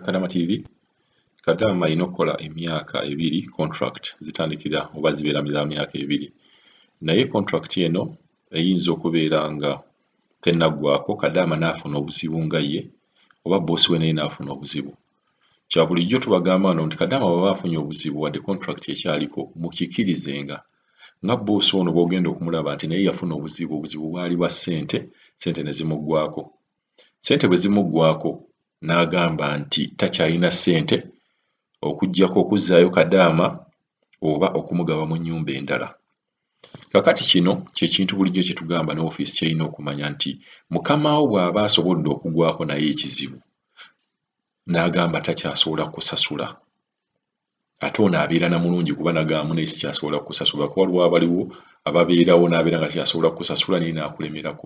Kadama TV Kadama alina okukola emyaka ebiri contract zitandikira oba zibeera za myaka ebiri naye contract eno eyinza okubeera nga tenaggwako Kadama n'afuna obuzibu nga ye oba boosi we naye n'afuna obuzibu kya bulijjo tubagamba no nti Kadama bwaba afunye obuzibu wadde contract ekyaliko mukikirizenga nga boosi ono bwogenda okumulaba nti naye yafuna obuzibu obuzibu bwali bwa ssente ssente ne zimuggwako Ssente bwe zimuggwaako n'agamba nti takyalina ssente okuggyako okuzzaayo Kadaama oba okumugaba mu nnyumba endala. Kaakati kino kye kintu bulijjo kye tugamba ne ofiisi ky'erina okumanya nti mukama wo bw'aba asobodde okugwako naye ekizibu n'agamba takyasobola kusasula, ate ono abeera na mulungi kuba nagamba munaye sikyasobola kukusasula kuba waliwo abaliwo ababeerawo nabeera nga kyasobola kukusasula naye nakulemerako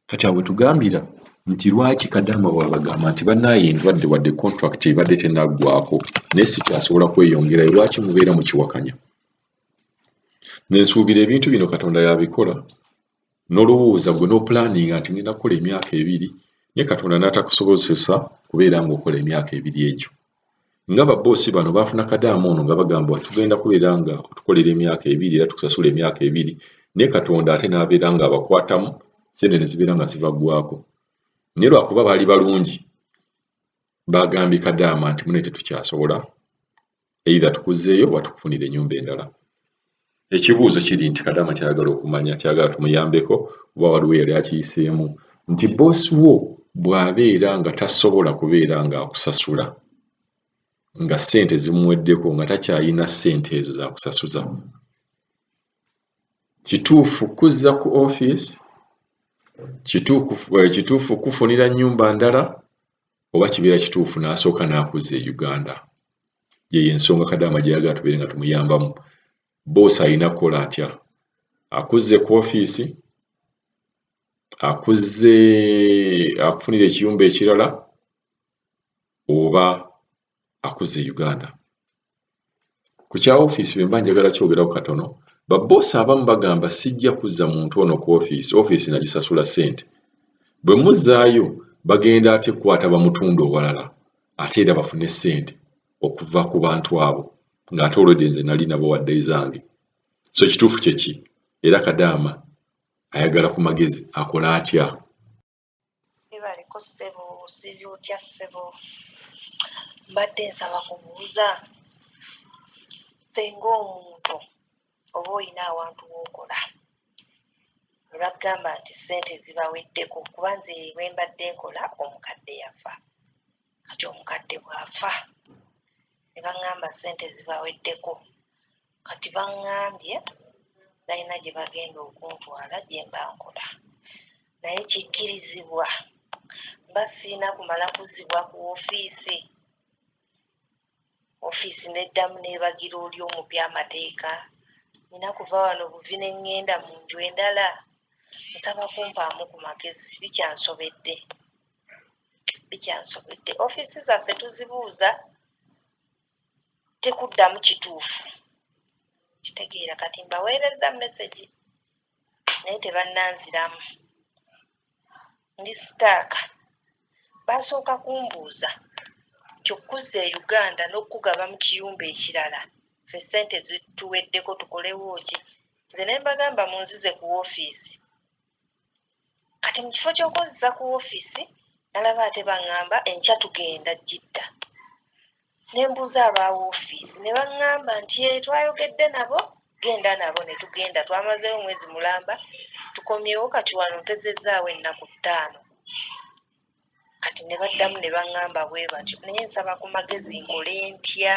kati awo wetugambira nti lwaki kadama wabagamba nti banaye endwadde wadde contract ebadde tenaggwako naye sikyasobola kweyongerayo lwaki mubeera mukiwakanya nensuubira ebintu bino katonda yabikola n'olowooza gwe n'opulaaninga nti ngenda kukola emyaka ebiri naye Katonda n'atakusobozesa kubeera ng'okola emyaka ebiri egyo. Nga babboosi bano baafuna kadaama ono nga bagambwa tugenda kubeera nga otukolera emyaka ebiri era tukusasula emyaka ebiri naye Katonda ate n'abeera ng'abakwatamu ssente ne zibeera nga zibaggwako. Naye lwakuba baali balungi baagambye kadaama nti mune tetukyasobola either tukuzzeeyo oba tukufunire ennyumba endala ekibuuzo kiri nti kadama kyayagala okumanya kyagala tumuyambeko oba waliwo yali akiyiseemu nti boosi wo bw'abeera nga tasobola kubeera ng'akusasula nga ssente zimuweddeko nga takyalina ssente ezo zakusasuza kituufu kuzza ku ofiisi kituufu eh, kufunira nnyumba ndala oba kibeera kituufu n'asooka n'akuzza e Uganda. Yeyo ensonga Kadaama gye yagala tubeere nga tumuyambamu. Boosi alina kukola atya? Akuzze ku ofiisi, akuzze akufunira ekiyumba ekirala oba akuzza e Uganda. Ku kya ofiisi bwe mba njagala kyogerako katono, babboosi abamu bagamba sijja kuzza muntu ono ku ofiisi, ofiisi nagisasula ssente. Bwe muzzaayo bagenda ate kukwata bamutunde owalala ate era bafune ssente okuva ku bantu abo ng'ate olwedde nze nali nabo wadde ezange. So ekituufu kye ki? Era Kadaama ayagala ku magezi akole atya? Webaliko ssebo osibye otya ssebo mbadde nsaba kubuuza senga omuntu oba olina awantu wokola nebakugamba nti sente zibaweddeko kuba nze wembadde nkola omukadde yafa kati omukadde bw'afa ne baŋŋamba ssente zibaweddeko kati baŋŋambye balina gye bagenda okuntwala gye mba nkola naye kikkirizibwa mba sirina kumala kuzzibwa ku woofiisi ofiisi n'eddamu n'ebagira oli omupya amateeka. Nnina kuva wano buvi ne ŋŋenda mu nju endala? Nsaba kumpaamu ku magezi, bikyansobedde. Bikyansobedde. Ofiisi zaffe tuzibuuza tekuddamu kituufu. Kitegeera kati mbaweerezza mesegi naye tebannanziramu. ndi sitaaka baasooka kumbuuza nti okukuzza e Uganda n'okukugaba mu kiyumba ekirala ffe ssente zituweddeko tukolewo ki? Nze ne mbagamba munzize ku woofiisi. Kati mu kifo ky'okunziza ku woofiisi nalaba ate bang'amba enkya tugenda Jidda. ne mbuuza aba woofiisi ne baŋŋamba nti ee eh, twayogedde nabo genda nabo ne tugenda twamazeewo omwezi mulamba tukomyewo kati wano mpezezzaawo ennaku ttaano kati ne baddamu ne baŋŋamba bwe batyo naye nsaba ku magezi nkole ntya